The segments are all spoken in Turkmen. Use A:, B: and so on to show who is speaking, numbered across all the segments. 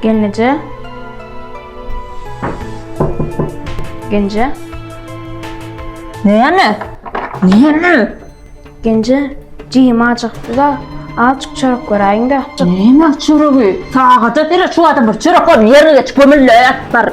A: Genije. Genije.
B: Näme? Näme?
A: Genije, jigim acykdy da, azjyk çörek göräýiň-de. Näme çöregi?
B: Sagada bile şu adam bir çörek ol ýerine geç kömülle bar.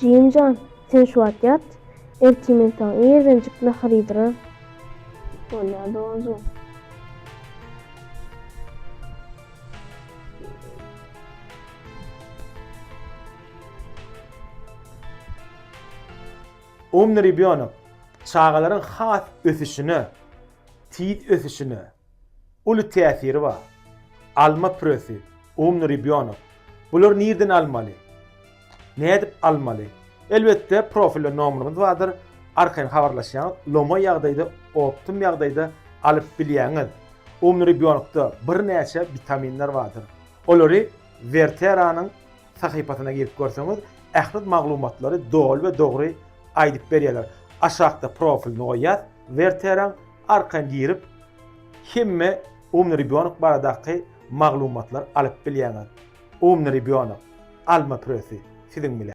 A: Jigim jan, sen şu wagt ýat, ertir men saňa irdenjik nahar iýdirerin. Bolýar doganjygym.
C: Umny rebýonok, çagalaryň has ösüşine, tiz ösüşine, uly täsiri bar. Alma püresi, Umny rebýonok. Bulary nirden almaly? Nädip almaly? Elbetde profilde nomerimiz bardyr, arkaýyn habarlaşýaňyz, lomaý ýagdaýda, optim ýagdaýda alyp bilýäňiz. Umny rebýonokda birnäçe witaminler bardyr. Olary Werteranyň sahypasyna girip görseňiz, ähli maglumatlary doly we dogry aýdyp berýärler. Aşakda profilini goýýas Werteraň, Arkan girip hemme Umny ribýonok baradaky maglumatlary alyp bilýäňiz. Umny ribýonok, alma püresi siziň bilen.